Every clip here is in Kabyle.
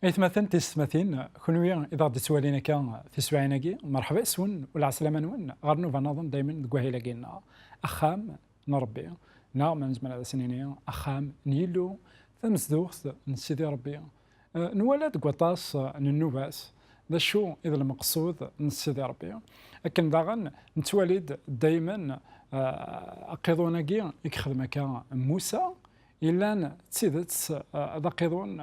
Aytmaten tiysetmatin, kunwi i d aɣ-d-ittwalin akka tiswiɛin-agi, merḥba yes-wen u lɛeslama-nwen ɣer nnuba-nniḍen daymen deg wahil-agi-nneɣ, Axxam n Rebbi, neɣ ma nezmer ad as-nini Axxam n Yillu, tamezduɣt n Sidi Rebbi. Nwala deg waṭas n nnuba-s d acu i d lmeqsud n Sidi Rebbi. Akken daɣen nettwali-d daymen aqiḍun-agi i yexdem akka Musa, yellan d tidet d aqiḍun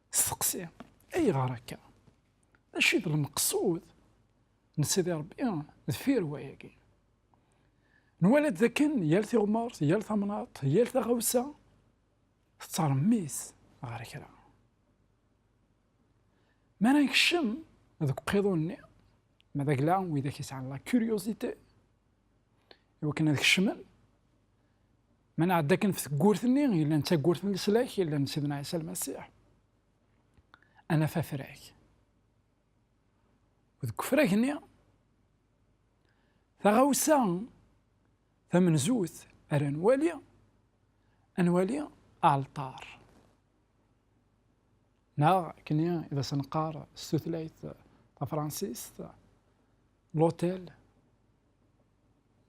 Steqsi, ayɣer akka? D acu i d lmeqsud n Sidi Ṛebbi deffir wayagi? Nwala-d dakken yal tiɣmert, yal tamnaḍt, yal taɣawsa tettṛemmis ɣer kra. Mi ara nekcem deg uqiḍun-nni, ma d agla widak yesɛan la curiosité, iwakken ad kecmen, Ma nɛedda akken ɣef tewwurt-nni, yellan d tawwurt n leslak, yellan n Sidna Ɛisa Lmasiḥ, ad naf afrag. Deg ufrag-nni, taɣawsa tamenzut ara nwali, ad nwali aɛalṭar. Neɣ akken i d as-neqqar s tutlayt tafransist, l'hôtel,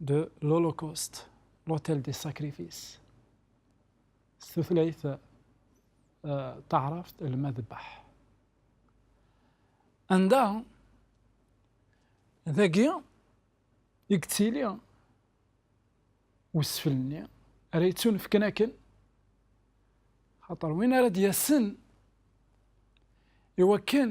de l'Holocauste, l'hôtel des sacrifices. S tutlayt euh, taɛrabt lmadbeḥ. Anda dagi i yettili wesfel-nni ara yettunefken akken xaṭer win ara d-yasen iwakken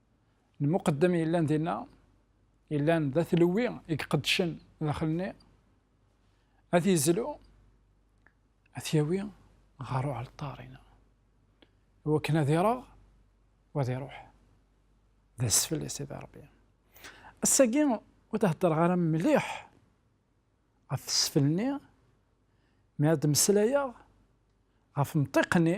lmuqeddem yellan dinna yellan d atlewwi i iqeddcen daxel-nni ad yezlu ad yawi ɣer uɛalṭar-ina wakken ad ireɣ wa ad iruḥ d asfel i Sidi Ṛebbi ass-agi ur d-heddreɣ ara mliḥ ɣef tesfel-nni mi ad d-mmeslayeɣ ɣef mṭiq-nni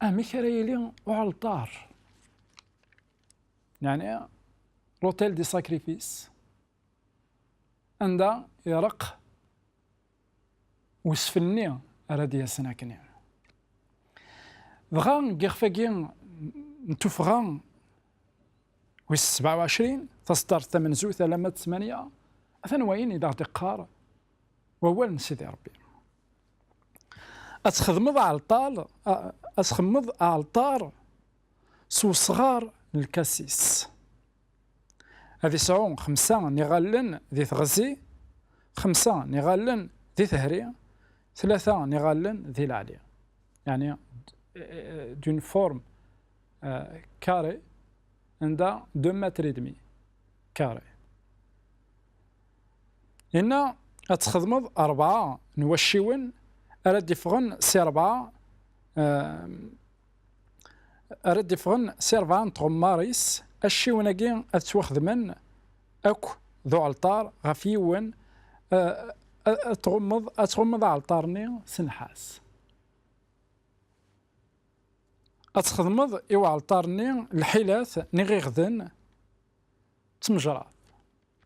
Amek ara yili uɛalṭar? Neɛni l'hôtel des sacrifices anda ireqq wesfel-nni ara d-yasen akkenni. Dɣa deg yixef-agi n tuffɣa wis sebɛa u ɛecrin, taseddart tamenzut alamma d tmanya, atan wayen i d aɣ-d-iqqar wawal n Sidi Ṛebbi. Ad txedmeḍ aɛalṭar, ad txemmeḍ aɛalṭar s wesɣar n lkasis. Ad isɛu xemsa n iɣallen di teɣzi, xemsa n iɣallen di tehri, tlata n iɣallen di leɛli. Yani, d'une forme euh, carrée, anda 2 mètres et demi carré. Inna, ad txedmeḍ rebɛa n wacciwen ara d-iffɣen si rebɛa ara d-iffɣen si rebɛa n tɣemmar-is, acciwen-agi ad ttwaxedmen akk d uɛelṭar ɣef yiwen, ad tɣummeḍ ad tɣummeḍ aɛelṭar-nni s nnḥas. Ad txedmeḍ i uɛelṭar-nni lḥilat n iɣiɣden d tmejṛat.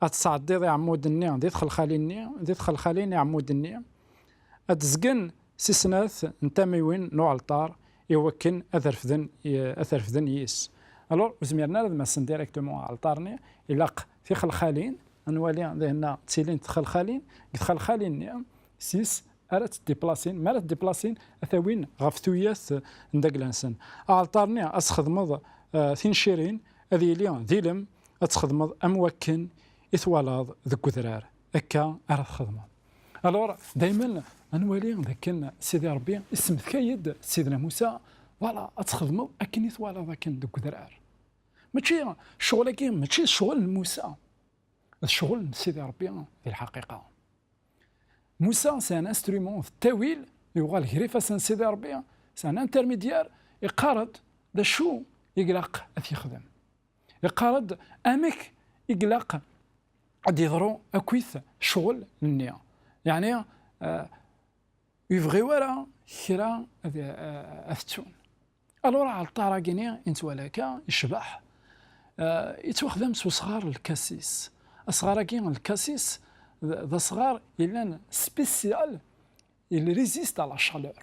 ad tesɛeddiḍ iɛmuden-nni di txelxalin-nni, di txelxalin iɛmuden-nni ad d-zgen si snat n tamiwin n uɛelṭar i wakken ad refden, ad t-refden yis. Alors, ur zmiren ara ad massen directement aɛelṭar-nni, ilaq tixelxalin, ad nwali dihenna ttilint txelxalin, deg txelxalin-nni sis ara tt-deplasin, mi ara tt-deplasin ad t-awin ɣef tuyat n dagla-nsen. Aɛelṭar-nni ad s-xedmeḍ tincirin, ad yili d ilem, ad txedmeḍ am wakken i twalaḍ deg udrar akka ara txedmeḍ alors dayman anwali dakken sidi rebbi issemtkay-d sidna musa wala ad txedmeḍ akken i twalaḍ akken deg udrar mačči ccɣel-agi mačči ccɣel n musa d ccɣel n sidi rebbi di lḥaqiqa musa c'est un instrument d tawil yuɣal gar ifassen sidi rebbi c'est un intermédiaire iqqar-d d acu i ilaq ad t-yexdem Iqarr-d amek i glaq ad d-iḍru akkit ccɣel nni. Yeɛni ur ibɣi wara kra ad t-ttun. Alur aɛalṭar-agi-ni i nettwali akka icbeḥ, yettwaxdam s usɣar n lkasis. Asɣar-agi n lkasis d asɣar yellan spécial, il résiste à la chaleur.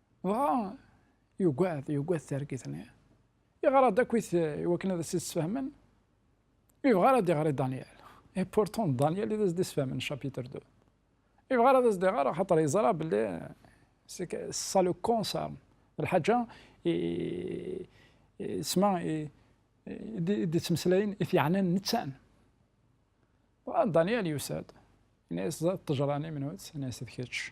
Dɣa yugad, yugad targit-nni. Yeɣra-d akkit i wakken ad as-id-sfehmen. Yebɣa ara d-iɣer i Daniel. Et pourtant Daniel i d as-d-isfehmen chapitre 2. Yebɣa ara d as-d-iɣer axaṭer yeẓra belli ça le concerne. Lḥaǧa isma i d-ittmeslayen i t-yeɛnan nettan. Dɣa Daniel yusa-d, yenna-as d ṭṭejra n imnut, yenna-as d kečč.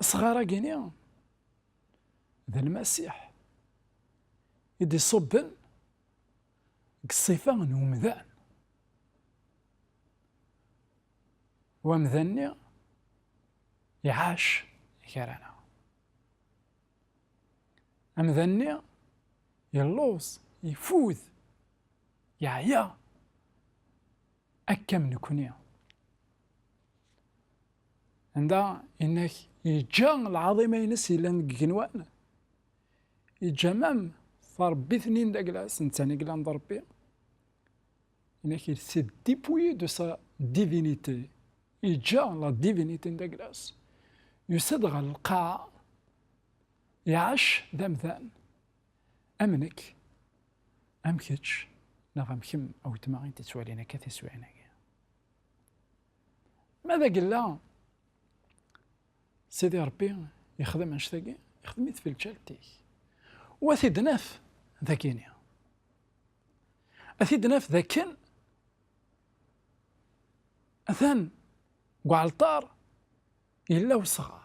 Asɣar-agi-ni d Lmasiḥ i d-iṣubben deg ṣṣifa n umdan. Wamdan-nni iɛac gar-aneɣ. Amdan-nni yelluẓ, ifud, yeɛya. Akka am nekni. Anda inak yeǧǧa lɛaḍima-ines yellan deg igenwan, yeǧǧa mam tarebbit-nni n Daglas, netta n yellan d Rebbi. Inak il s'est dépouillé de sa divinité, yeǧǧa la divinité n Daglas, yusa-d ɣer lqaɛa, iɛac d amdan. Am nekk, am kečč, neɣ am kemm, a weltma i d-ittwalin akka tiswiɛin-agi. Ma d agella, Sidi Ṛebbi yexdem annect-agi, yexdem-it fi lǧalt-ik. U a t-id-naf d akini. A t-id-naf d akken atan deg uɛalṭar yella wesɣar.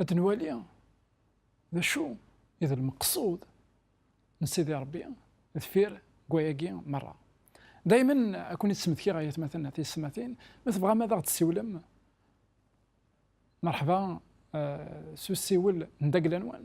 Ad nwali d acu i d lmeqsud n Sidi Rebbi deffir wayagi merra. Daymen ad ken-id-smektiɣ ay atmaten tiyesmatin, ma tebɣam ad aɣ-d-tsiwlem merḥba s usiwel n dagla-nwen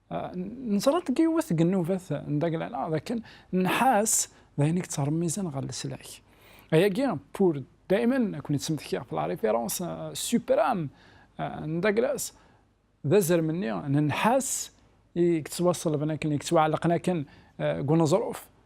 Neẓra-d deg yiwet deg nnubat n Daglana d akken nnḥas d ayen i yettṛemmizen ɣer leslak. Ayagi, pour daymen ad ken-id-smektiɣ ɣef la référence suprême n Daglas, d azrem-nni n nnḥas i yettwaṣelben akken, i yettwaɛellqen akken deg uneẓruf.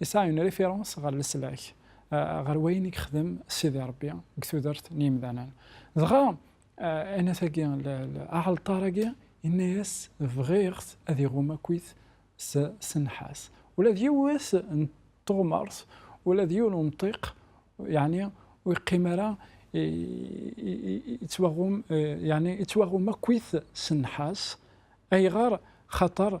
Yesɛa une référence ɣer leslak, ɣer wayen i yexdem Sidi Ṛebbi deg tudert n yemdanen. Dɣa, anat-agi, aɛalṭar-agi, yenna-yas, Bɣiɣ-t ad iɣum akkit s nnḥas. Ula d yiwet n teɣmert, ula d yiwen umṭiq, yeɛni ur yeqqim ara, yettwaɣum, yeɛni yettwaɣum akkit s nnḥas. Ayɣer? Xaṭer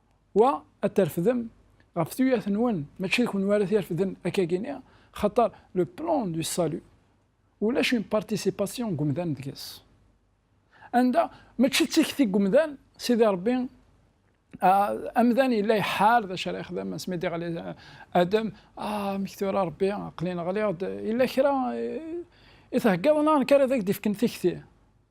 Wa, ad terfdem ɣef tuyat-nwen, mačči d kunwi ara t-irefden akkagi-nni, xaṭer le plan du salut, ulac une participation n umdan deg-s. Anda, mačči d tikti n umdan, Sidi Ṛebbi, amdan yella iḥar d acu ara yexdem, asmi d-iɣli Adem, ah, amek tura Ṛebbi, aql-in ɣliɣ-d, yella kra i theggaḍ neɣ nekk ara d ak-d-ifken tikti?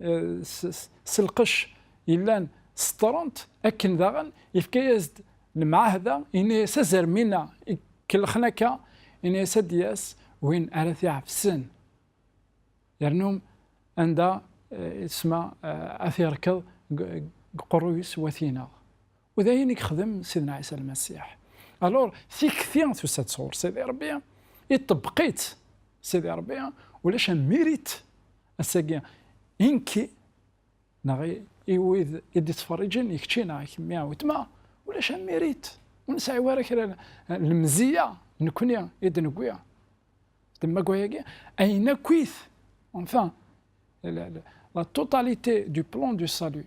eh, s lqec yellan seṭṭrent akken daɣen yefka-yas-d lemɛahda ini-yas azermina kellxen akka ini-yas ad d-yas win ara t-iɛefsen yernu anda eh, isma eh, ad t-yerkeḍ deg qerru-is wat-ineɣ U d ayen i yexdem Sidna Ɛisa Lmasiḥ. Alors, tikti tusa-d sɣur Sidi Ṛebbi, iṭebbeq-itt Sidi Ṛebbi, ulac un mérite ass-agi i nekki neɣ i wid i d-ittferriǧen, i kečči neɣ i kemmi a wetma, ulac un mérite, ur nesɛi wara kra n lemziyya nekni i d-newwi d maggwa-agi, ayen akk-it, enfin, la totalité du plan du salut,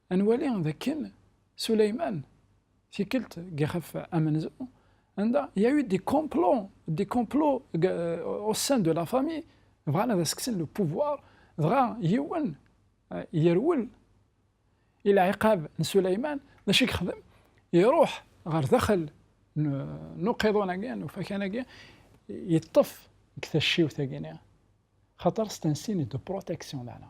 Ad nwali d akken Suleyman, tikkelt deg ixef amenzu, anda il y a eu des complots, des complots au sein de la famille, bɣan ad as-kksen le pouvoir, dɣa yiwen yerwel i lɛiqab n Suleyman, d acu i yexdem? Iruḥ ɣer daxel n uqiḍun-agi, n ufakan-agi, yeṭṭef deg tacciwt-agi-nni, xaṭer c'est un signe de protection, meɛna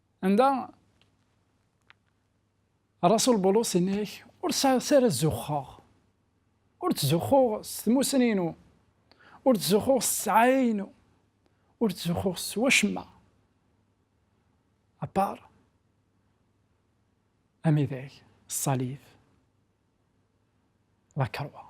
Anda Rasul Bulus inna-ak, ur sɛiɣ ara zuxxeɣ, ur ttzuxxuɣ s tmussni-inu, ur ttzuxxuɣ s ssɛaya-inu, ur ttzuxxuɣ s wacemma, apart amidag, ṣṣalib, la croix.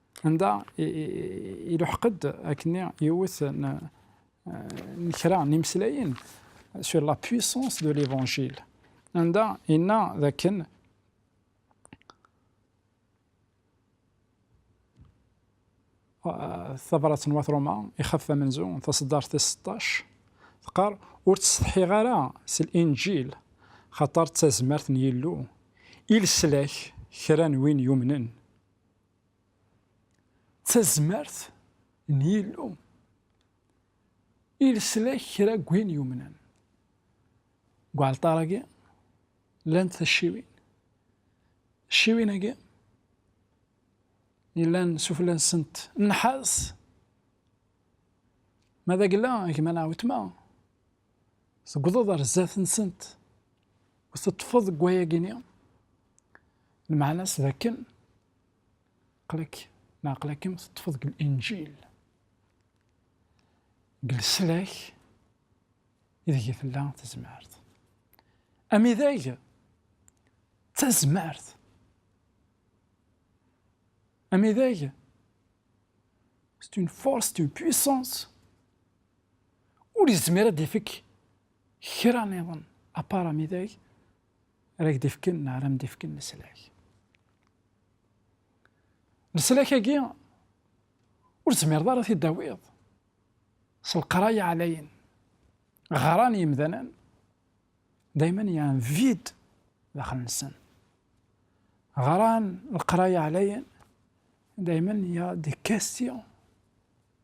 Anda iluḥeq-d akkenni yiwet n kra n imeslayen sur la puissance de l'Evangile, anda yenna d akken tabrat n Wat Roma, ixef amenzu, taseddart tis seṭṭac, teqqar, Ur ttsetḥiɣ ara s Linǧil, xaṭer d tazmert n Yillu i leslak kra n win yumnen. D tazmert n Yillu i leslak kra n win yumnen. Deg uɛalṭar-agi, llant tacciwin. Tacciwin-agi, yellan sufella-nsent nnḥas, ma d agla, gma neɣ wetma, Tewwḍeḍ ar zdat-nsent u teṭṭfeḍ deg wayagi-nni, lmeɛna-s d akken aql-ak neɣ aql-akem teṭṭfeḍ deg Linǧil, deg leslak ideg i tella tezmert. Amidag d tazmert. Amidag c'est une force, c'est une puissance ur yezmir ad d-ifek kra niḍen apara midag ara ak-d-ifken neɣ ara m-d-ifken leslak. Leslak-agi ur tezmireḍ ara t-id-tawiḍ s leqraya ɛlayen ɣran yimdanen dayman y un vide daxel-nsen. Ɣran leqraya ɛlayen dayman y a des questions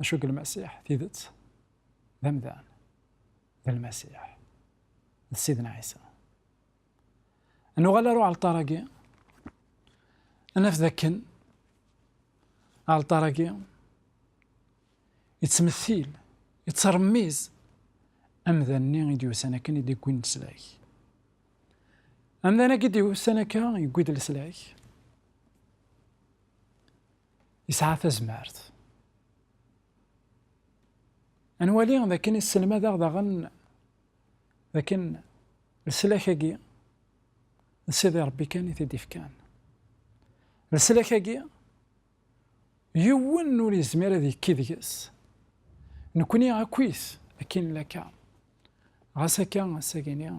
Acu deg Lmasiḥ? Tidet, d amdan, d Lmasiḥ, d Sidna Ɛisa. Nuɣal ar uɛalṭar-agi, naf d akken aɛalṭar-agi yettmettil, yettṛemmiz amdan-nni i d-yusan akken i d-iggwin leslak. Amdan-agi d-yusan akka, yewwi-d leslak, Yesɛa tazmert. Ad nwali d akken yesselmad-aɣ daɣen d akken leslak-agi d Sidi Ṛebbi kan i t-id-ifkan. Leslak-agi yiwen ur yezmir ad yekki deg-s, nekkni akkit akken nlaka. Ɣas akka ass-agi-nni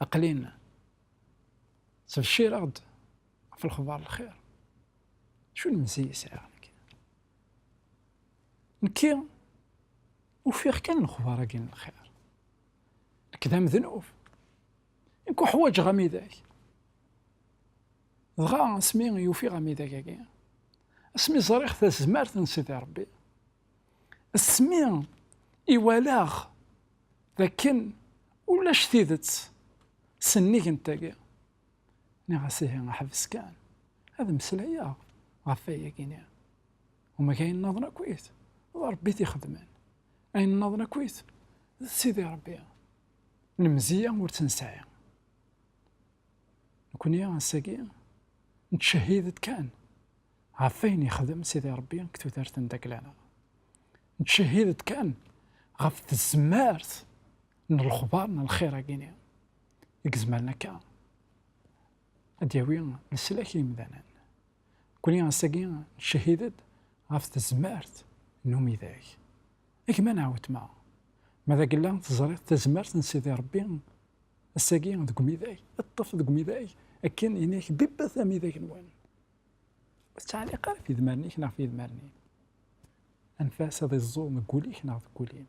aqlin ttbeccireɣ-d. ɣef lexbar lxir acu n mezzi i sɛiɣ nekk nekki ufiɣ kan lexbar-agi n lxir nekk d amednub nekk uḥwaǧeɣ amidag dɣa asmi yufiɣ amidag-agi asmi ẓriɣ tazmert n Sidi Rebbi asmi iwalaɣ dakken ulac tidet sennig n tagi Nniɣ-as ihi ḥbes kan ad mmeslayeɣ ɣef wayagi-nni. Umak ayen nnaḍen akkit d Rebbi t-ixedmen, ayen nnaḍen akkit d Sidi Rebbi. Lemziya ur tt-nesɛi. Nekkni ass-agi nettcehhid-d kan ɣef wayen yexdem Sidi Rebbi deg tudert n Daglana. Nettcehhid-d kan ɣef tzemmart n lexbar n lxir-agi-nni. i izemren akka ad d-yawi leslak i yimdanen. Nekkni ass-agi ncehhid-d ɣef tezmert n umidag. A gma neɣ weltma, ma d agella teẓriḍ tazmert n Sidi Ṛebbi ass-agi deg umidag, ṭṭef deg umidag akken ini-ak bibbat amidag-nwen. Ur tettɛelliq ara ɣef yidmaren-ik neɣ ɣef yidmaren-im. Anef-as ad iẓẓu deg wul-ik neɣ deg wul-im.